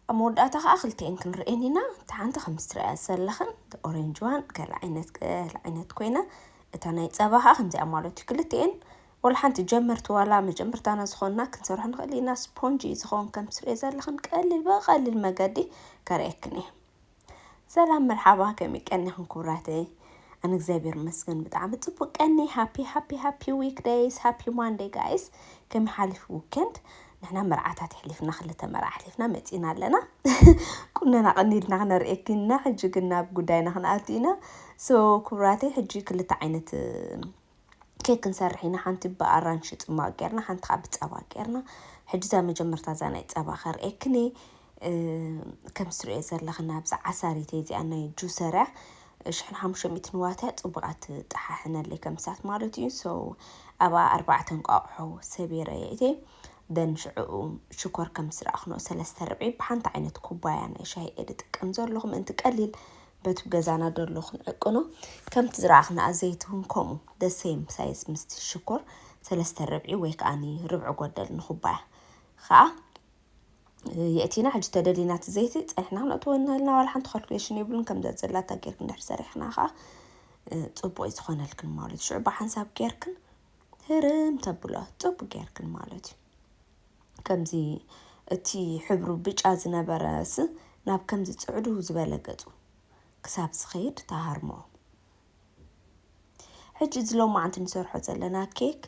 ኣብ መወዳእታ ከኣ ክልቲኤን ክንርእየን ኢና እታ ሓንቲ ከምዚ ትርእያ ዘለኽን the orange one ገለ ዓይነት ገለ ዓይነት ኮይና እታ ናይ ጸባ ከኣ ከምዚኣ ማለት እዩ ክልቲኤን ወላ ሓንቲ ጀመርቲ ዋላ መጀመርታና ዝኾንና ክንሰርሖ ንኽእል ኢና ስፖንጅ እዩ ዝኸውን ከም ትርእየ ዘለኽን ቀሊል ብቐሊል መገዲ ከርእየክን እየ ሰላም መርሓባ ከመይ ቀኒኹም ክቡራተይ ኣነ እግዚኣብሔር ይመስገን ብጣዕሚ ፅቡቅ ቀኒ ሃፒ ሃፒ ሃፒ ዊክ ደይስ ሃፒ ማንደይ ጋይስ ከመይ ሓሊፉ ዊኬንድ ንሕና መርዓታት የሕሊፍና ክልተ መርዓ ኣሕሊፍና መፂና ኣለና ቁነና ቀኒልና ክነርእየኪና ሕጂ ግን ናብ ጉዳይና ክንኣቱ ኢና ሶ ክቡራተይ ሕጂ ክልተ ዓይነት ኬክ ክንሰርሕ ኢና ሓንቲ ብኣራንሺ ጽሟቅ ጌርና ሓንቲ ከኣ ብጸባ ጌርና ሕጂ እዛ መጀመርታ እዛ ናይ ጸባ ከርእየክን እየ ከምቲ ትርእዮ ዘለኽን ኣብዚ ዓሳሪት እየ እዚኣ ናይ ጁሰር እያ ሽሕን ሓሙሽተ ሚእትን ዋት እያ ጽቡቃ ትጠሓሕነለይ ከም እሳት ማለት እዩ ሶ ኣብኣ ኣርባዕተ እንቋቑሖ ሰቢረ የእትየ ደን ሽዕኡ ሽኮር ከም ስረኣኽኖ ሰለስተ ርብዒ ብሓንቲ ዓይነት ኩባያ ናይ ሻሂ እየ ዝጥቀም ዘለኹ ምእንቲ ቀሊል በቱ ገዛና ደሎ ክንዕቅኖ ከምቲ ዝረኣኽናኣ ዘይቲ ውን ከምኡ the same size ምስቲ ሽኮር ሰለስተ ርብዒ ወይ ከኣኒ ርብዒ ጎደል ንኹባያ ከኣ የእቲና ሕጂ ተደሊና እቲ ዘይቲ ጸኒሕና ክንእትዎ ንህልና ዋላ ሓንቲ ካልኩሌሽን የብሉን ከም ዘዘላታ ጌርክን ድሕሪ ሰሪሕክና ከኣ ጽቡቅ እዩ ዝኾነልክን ማለት እዩ ሽዑ ብሓንሳብ ጌርክን ህርም ተብሎ ጽቡቅ ጌርክን ማለት እዩ ከምዚ እቲ ሕብሩ ብጫ ዝነበረስ ናብ ከምዚ ጽዕዱ ዝበለ ገጹ ክሳብ ዝኸይድ ትሃርሞ። ሕጂ እዚ ሎማዓንቲ ንሰርሖ ዘለና ኬክ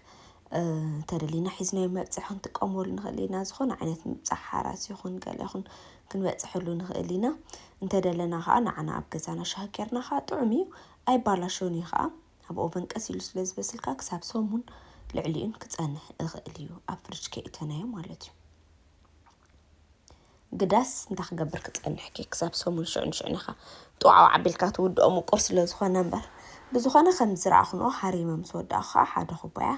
እንተደሊና ሒዝናዮ መብጽሒ ክንጥቀመሉ ንኽእል ኢና። ዝኾነ ዓይነት ምብጻሕ ሓራስ ይኹን ገለ ይኹን ክንበጽሐሉ ንኽእል ኢና። እንተደለና ከዓ ንዓና ኣብ ገዛና ሻሂ ጌርና ከዓ ጥዑም እዩ ኣይባላሾን እዩ ከዓ ኣብ ኦቨን ቀስ ኢሉ ስለ ዝበስል ከኣ ክሳብ ሰሙን ልዕሊኡን ክጸንሕ እኽእል እዩ ኣብ ፍርጅ ከይእተናዮ ማለት እዩ ግዳስ እንታይ ክገብር ክጸንሕ ከ ክሳብ ሰሙን ሽዑ ንሽዑ ኢኻ ጥዋዕዋዕ ኣቢልካ ትውድኦ ምቁር ስለ ዝኾነ እምበር ብዝኾነ ከም ዝረኣኽንኦ ሃሪመ ምስ ወዳእኹ ከዓ ሓደ ኩባያ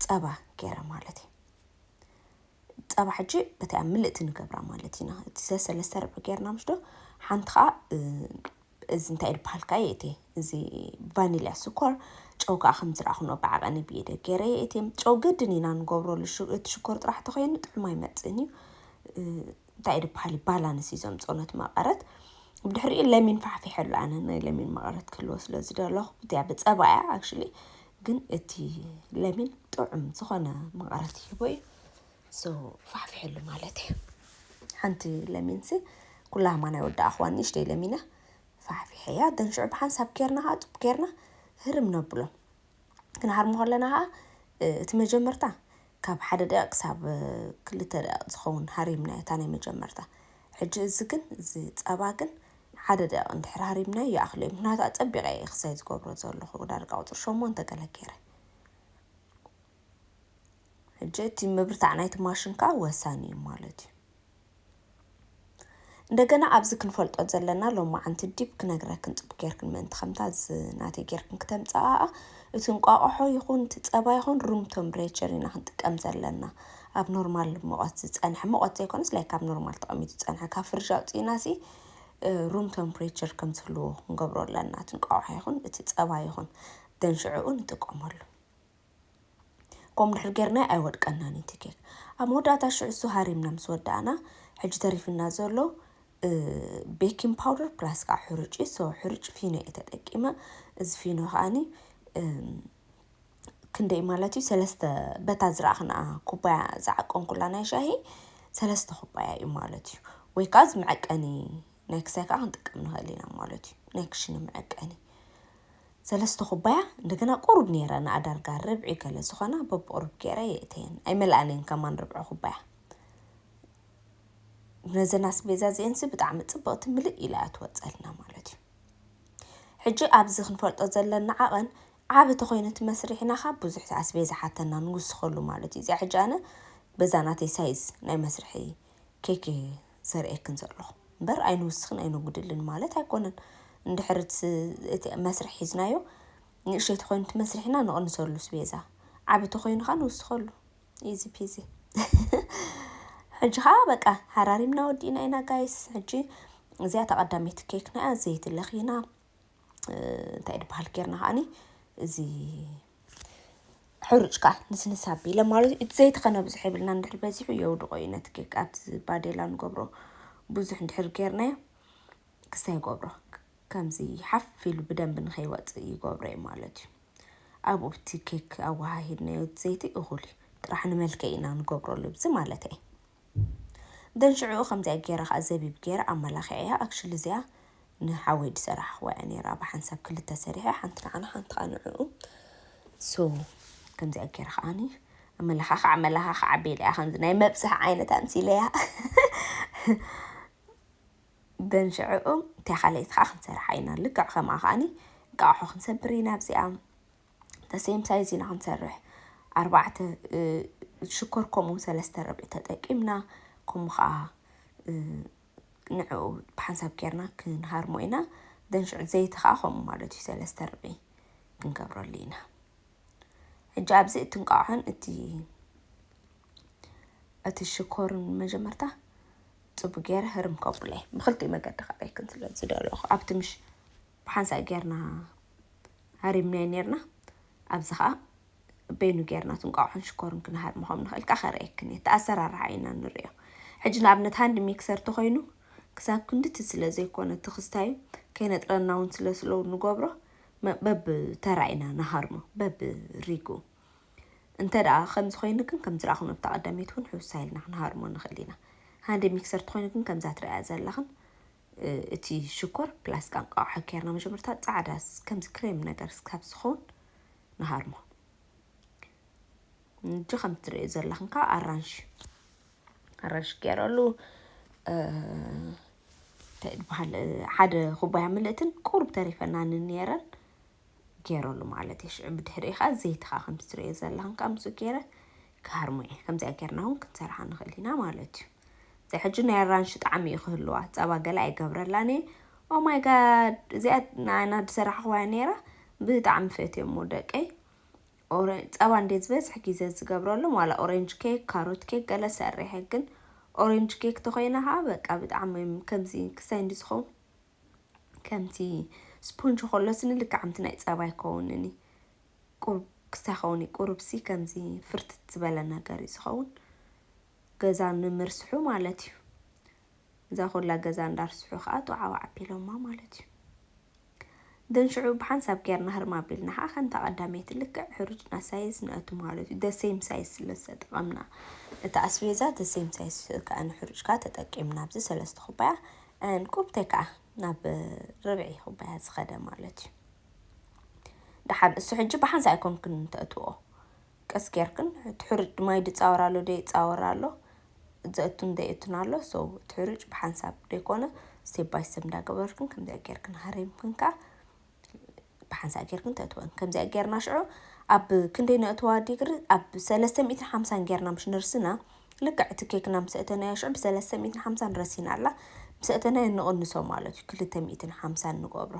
ጸባ ገይረ ማለት እዩ ጸባ ሕጂ በቲ ኣብ ምልእቲ ንገብራ ማለት ኢና እቲ ሰለስተ ርብዒ ገይርና ምሽዶ ሓንቲ ከዓ እዚ እንታይ ድበሃል ከኣ የእቴ እዚ ቫኒልያ ስኮር ጨው ከኣ ከም ዝረኣኹኖ ብዓቐኒ ብኢደይ ገይረ የእቴ ጨው ግድን ኢና ንገብሮ እቲ ሽኮር ጥራሕ ተኾይኑ ጥዑም ኣይመጽእን እዩ እንታይ ድበሃል እዩ ባላንስ እዩ ዘምጽኦ ነቲ መቐረት ብድሕሪኡ ለሚን ፋሕፊሐሉ ኣነ ናይ ለሚን መቐረት ክህልዎ ስለ ዝደለኹ እቲኣ ብጸባ እያ ኣክቹሊ ግን እቲ ለሚን ጥዑም ዝኾነ መቐረት ይህቦ እዩ So ፋሕፍሕሉ ማለት እዩ ሓንቲ ለሚንሲ ኩላ ህማ ናይ ወዲ ኣኽዋን ንእሽተይ ለሚና ፋሕፊሐያ ደን ሽዑ ብሓንሳብ ጌርና ከዓ ጡብ ጌርና ህርም ነብሎ ክንሃርሞ ከለና ከዓ እቲ መጀመርታ ካብ ሓደ ደቂቕ ክሳብ ክልተ ደቂቕ ዝኸውን ሃሪምናዮ እታ ናይ መጀመርታ ሕጂ እዚ ግን እዚ ጸባ ግን ሓደ ደቂቕ እንድሕር ሃሪምናዮ ይኣኽሎ እዩ ምክንያቱ ኣጸቢቐ እየ ክሳይ ዝገብሮ ዘለኹ ዳርጋ ቁፅሪ ሸሞንተ ገለ ገይረ ሕጂ እቲ ምብርታዕ ናይቲ ማሽን ከኣ ወሳኒ እዩ ማለት እዩ። እንደገና ኣብዚ ክንፈልጦ ዘለና ሎማዓንቲ ዲብ ክነግረክን ጽቡቅ ጌርክን ምእንቲ ከምታ ናተይ ጌርክን ክተምጽኣኣ እቲ እንቋቆሖ ይኹን እቲ ጸባ ይኹን ሩም ቶምብሬቸር ኢና ክንጥቀም ዘለና ኣብ ኖርማል ሙቐት ዝጸንሐ ሙቐት ዘይኮነስ ላይክ ኣብ ኖርማል ተቐሚጡ ዝጸንሐ ካብ ፍርጅ ኣውጺእናሲ ሩም ቶምፕሬቸር ከም ዝህልዎ ክንገብሮ ኣለና እቲ እንቋቆሖ ይኹን እቲ ጸባ ይኹን ደን ሽዕኡ ንጥቀመሉ። ከምኡ ድሕር ጌርናዮ ኣይወድቀናን እዩ እቲ ኬክ ኣብ መወዳእታ ሽዑ እሱ ሃሪምና ምስ ወዳእና ሕጂ ተሪፍና ዘሎ ቤኪንግ ፓውደር ፕላስ ከዓ ሕሩጭ እዩ ሰው ሕሩጭ ፊኖ እየ ተጠቂመ እዚ ፊኖ ከዓኒ ክንደይ ማለት እዩ ሰለስተ በታ ዝረኣኽና ኩባያ ዝዓቀንኩላ ናይ ሻሂ ሰለስተ ኩባያ እዩ ማለት እዩ ወይ ከዓ እዚ መዐቀኒ ናይ ክሳይ ከዓ ክንጥቀም ንኽእል ኢና ማለት እዩ ናይ ክሽነ መዐቀኒ ሰለስተ ኩባያ እንደገና ቁሩብ ኔረ ንኣዳርጋ ርብዒ ገለ ዝኾና በብቁሩብ ጌረ የእተየን ኣይመልኣን እየን ከማን ርብዒ ኩባያ ነዘን ኣስቤዛ እዚኤንሲ ብጣዕሚ ጽብቕቲ ምልእ ኢላ እያ ትወጸልና ማለት እዩ ሕጂ ኣብዚ ክንፈልጦ ዘለና ዓቐን ዓቢ ተኮይኑ እቲ መስርሒና ካብ ብዙሕ ኣስቤዛ ሓተና ንውስኸሉ ማለት እዩ እዚኣ ሕጂ ኣነ በዛ ናተይ ሳይዝ ናይ መስርሒ ኬክ ዘርእየክን ዘለኹ እምበር ኣይንውስኽን ኣይነጉድልን ማለት ኣይኮነን። እንድሕሪ እቲ መስርሕ ሒዝናዮ ንእሽተይ ተኾይኑ እቲ መስርሕና ንቕንሰሉ ስቤዛ ዓቢ ተኾይኑ ኸኣ ንውስኸሉ ኢዚ ፒዚ ሕጂ ኸኣ በቃ ሃራሪምና ወዲእና ኢና ጋይስ ሕጂ እዚኣ ተቐዳመይቲ ኬክና እያ ዘይትለኽይና እንታይ እዩ ዝበሃል ጌርና ከዓኒ እዚ ሕሩጭ ከዓ ንስንስ ኣቢለ ማለት እዩ እቲ ዘይቲ ከነ ብዙሕ የብልና እንድሕር በዚሑ የውድቖ እዩ ነቲ ኬክ ኣብቲ ባዴላ ንገብሮ ብዙሕ እንድሕር ጌርናዮ ክስታይ ይገብሮ ከምዚ ሓፍ ኢሉ ብደንቢ ንኸይወፅእ ይገብሮ እዩ ማለት እዩ ኣብኡ እቲ ኬክ ኣወሃሂድናዮ ዘይቲ እኹል እዩ ጥራሕ ንመልክዕ ኢና ንገብሮ ልብዚ ማለት እየ። then ሽዑኡ ከምዚኣ ጌረ ከኣ ዘቢብ ጌረ ኣማላኪዐያ actually እዚኣ ንሓወይ ድሰራሕክዋ እያ ኔራ ብሓንሳብ ክልተ ሰሪሐ ሓንቲ ንዓና ሓንቲ ከኣ ንዕኡ so ከምዚኣ ጌረ ከኣኒ ኣመላኻኽዕ ኣመላኻኽዕ ኣቢለያ ከምዚ ናይ መብጽሕ ዓይነት ኣምሲለያ then ሽዑኡ እታ ካልኣይቲ ከኣ ክንሰርሓ ኢና ልክዕ ከምኣ ከኣኒ እንቃቑሖ ክንሰብር ኢና ኣብዚኣ the same size ኢና ክንሰርሕ ኣርባዕተ ሽኮር ከምኡ ሰለስተ ርብዒ ተጠቂምና ከምኡ ከዓ ንዕኡ ብሓንሳብ ጌርና ክንሃርሞ ኢና ደንሽዑ ዘይቲ ከዓ ከምኡ ማለት እዩ ሰለስተ ርብዒ ክንገብረሉ ኢና ሕጂ ኣብዚ እቲ እንቋዖን እቲ እቲ ሽኮርን መጀመርታ ፅቡ ገይረ ህርም ከብለ ብክልቲኡ መገዲ ካባይ ክንስለ ዝደለኹ ኣብቲ ምሽ ብሓንሳእ ጌርና ሃሪምናዮ ኔርና ኣብዚ ከኣ በይኑ ጌርና እቲ እንቋቑሖን ሽኮርን ክንሃርሞ ከም ንኽእል ከኣ ከርእየክን እየ እቲ ኣሰራርሓ ኢና ንርእዮ ሕጂ ንኣብነት ሃንድ ሚክሰር ተኾይኑ ክሳብ ክንድቲ ስለ ዘይኮነ ትኽስታዩ ከይነጥረና እውን ስለ ስለ ንገብሮ በብ ተራ ኢና ንሃርሞ በብ ሪጉ እንተ ደኣ ከምዚ ኮይኑ ግን ከም ዝረኣኹም ኣብታ ቀዳመይቲ እውን ሕውስ ኢልና ክንሃርሞ ንኽእል ኢና ሃንድ ሚክሰር ተኾይኑ ግን ከምዛ ትርእያ ዘለኽን እቲ ሽኮር ፕላስ ቃንቃ ውሓ ኬርና መጀመርታ ጻዕዳ ከምዚ ክሬም ነገር ስካብ ዝኸውን ንሃርሞ እንጂ ከም ትርእዩ ዘለኽን ከዓ ኣራንሽ ኣራንሽ ገይረሉ እንታይ ዝበሃል ሓደ ኩባያ ምልእትን ቁሩብ ተሪፈናንን ነይረን ጌረሉ ማለት እየ ሽዑ ብድሕሪኡ ከዓ ዘይትኻ ከምቲ ትሪኦ ዘለኻን ከዓ ምስኡ ጌረ ክሃርሞ እየ ከምዚኣ ጌርና እውን ክንሰርሓ ንኽእል ኢና ማለት እዩ እዚኣ ሕጂ ናይ ኣራንሺ ጣዕሚ እዩ ክህልዋ ጸባ ገለ ኣይገብረላን እየ ኦማይ ጋድ እዚኣ ንኣና ዝሰራሕኽዋያ ነይራ ብጣዕሚ ፈትዮሞ ደቀይ ጸባ እንደ ዝበዝሕ ግዜ ዝገብረሎም ዋላ ኦሬንጅ ኬክ ካሮት ኬክ ገለ ሰሪሐ ግን ኦሬንጅ ኬክ ተኮይና ከዓ በቃ ብጣዕሚ ከምዚ ክሳይ እንዲ ዝኸውን ከምቲ ስፖንጅ ከሎ ስኒ ልክዕ ከምቲ ናይ ጸባ ይከውንን እዩ። ቁሩብ ክስታይ ይኸውን እዩ። ቁሩብሲ ከምዚ ፍርትት ዝበለ ነገር እዩ ዝኸውን። ገዛ ንምርስሑ ማለት እዩ። እዛ ኩላ ገዛ እንዳርስሑ ከዓ ጡዓው ዓቢሎማ ማለት እዩ። ደን ሽዑ ብሓንሳብ ጌርና ህርም ኣቢልና ከዓ ከምታ ቀዳመይቲ ልክዕ ሕሩጭና ሳይዝ ንእቱ ማለት እዩ። ደሴም ሳይዝ ስለ ዝተጠቐምና እቲ ኣስቤዛ ደሴም ሳይዝ ከዓ ንሕሩጭ ከዓ ተጠቂምና ኣብዚ ሰለስተ ኩባያ እንቁብቴ ከኣ ናብ ርብዒ ኩባያ ዝኸደ ማለት እዩ። ደሓን እሱ ሕጂ ብሓንሳእ ኣይኮንክን ተእትዎ ቀስ ጌርክን እቲ ሕሩጭ ማይ ድጻወር ኣሎ ደይጻወር ኣሎ ዘእቱን ደይእቱን ኣሎ ሶ እቲ ሕሩጭ ብሓንሳብ ደይኮነ ስቴፕ ባይ ስቴፕ እንዳገበርክን ከምዚኣ ጌርክን ሃሪምክን ከኣ ብሓንሳእ ጌርክን ተእትወን ከምዚኣ ጌርና ሽዑ ኣብ ክንደይ ነእትዋ ዲግሪ ኣብ ሰለስተ ሚእትን ሓምሳን ጌርና ምሽ ንርስና ልክዕ እቲ ኬክና ምስ እተናዮ ሽዑ ብሰለስተ ሚእትን ሓምሳን ረሲና ኣላ ምስ እተናዮ ንቕንሶ ማለት እዩ ክልተ ሚእትን ሓምሳን ንገብሮ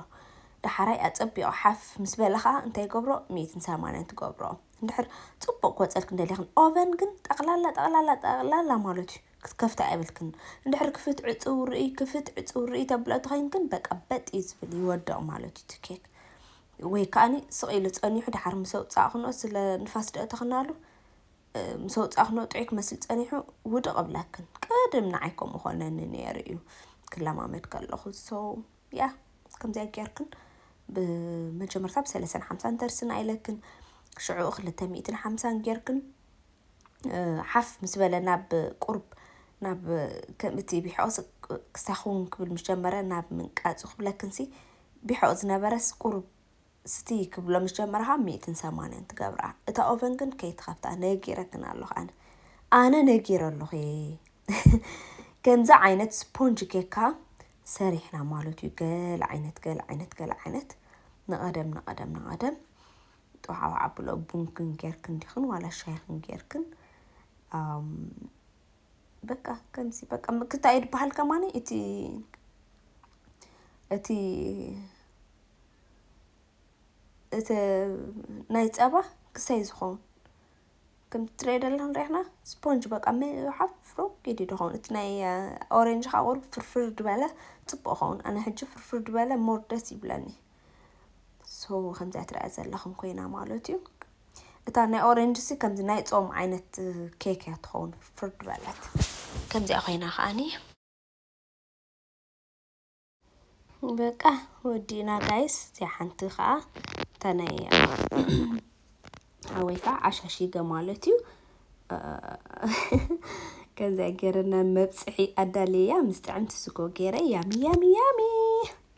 ዳሓራይ ኣጸቢቑ ሓፍ ምስ በለ ከዓ እንታይ ገብሮ ሚእትን ሰማንያን ትገብሮ እንድሕር ጽቡቕ ክወጸልክ እንደልያ ኦቨን ግን ጠቕላላ ጠቕላላ ጠቕላላ ማለት እዩ ክትከፍታ የብልክን እንድሕር ክፍት ዕጽው ርእይ ክፍት ዕጽው ርእይ ተብልኦ ተኮይንክን በቃ በጥ እዩ ዝብል ይወድቅ ማለት እዩ እቲ ኬክ ወይ ከኣኒ ስቅ ኢሉ ጸኒሑ ድሓር ምስ ኣውጻእክንኦ ስለ ንፋስ ደእተክናሉ ምስ ኣውጻእክንኦ ጥዑይ ክመስል ጸኒሑ ውድቅ እብለክን ቅድም ንዓይ ከምኡ ኮነኒ ነይሩ እዩ ክለማመድ ከለኹ ሶ ያ ከምዚኣ ጌርክን ብመጀመርታ ብሰለሰን ሓምሳን ተርስና ኢለክን ሽዑኡ ክልተ ሚእትን ሓምሳን ጌርክን ሓፍ ምስ በለ ናብ ቁርብ ናብ ከምእቲ ቢሖኦስ ክሳኹን ክብል ምስ ጀመረ ናብ ምንቃጹ ክብለክንሲ ቢሖኦ ዝነበረስ ቁርብ ስቲ ክብሎ ምስ ጀመረ ካብ ሚእትን ሰማንያን ትገብራ እታ ኦቨን ግን ከይትኸፍታ ነጊረክን ኣለኹ ኣነ ኣነ ነጊረ ኣለኹ ከምዚ ዓይነት ስፖንጅ ጌካ ሰሪሕና ማለት እዩ ገለ ዓይነት ገለ ዓይነት ገለ ዓይነት ንቐደም ንቐደም ንቐደም ጥውዓውዕ ኣብሎ ቡንክን ጌርክን ዲኽን ዋላ ሻይኽን ጌርክን በቃ ከምዚ በቃ ምክታይ ድበሃል ከማኒ እቲ እቲ እቲ ናይ ፀባ ክሰይ ዝኸውን ከምቲ ትሪኦ ደለኹም ሪኢኽና ስፖንጅ በቃ ምሓፍ ፍሩግ ኢሉ ድኸውን እቲ ናይ ኦሬንጅ ከዓ ቁሩብ ፍርፍር ድበለ ፅቡቅ ኸውን ኣነ ሕጂ ፍርፍር ድበለ ሞር ደስ ይብለኒ ሶ ከምዚኣ ትሪኣ ዘለኹም ኮይና ማለት እዩ እታ ናይ ኦሬንጅ ሲ ከምዚ ናይ ፆም ዓይነት ኬክ እያ ትኸውን ፍርፍር ድበለት ከምዚኣ ኮይና ከዓኒ በቃ ወዲእና ጋይስ እዚኣ ሓንቲ ከዓ እታ ናይ ሓወይ ከዓ ዓሻሽገ ማለት እዩ ከምዚኣ ገይረና መብፅሒ ኣዳልየያ ምስ ጥዕምቲ ስጎ ገይረ ያሚ ያሚ ያሚ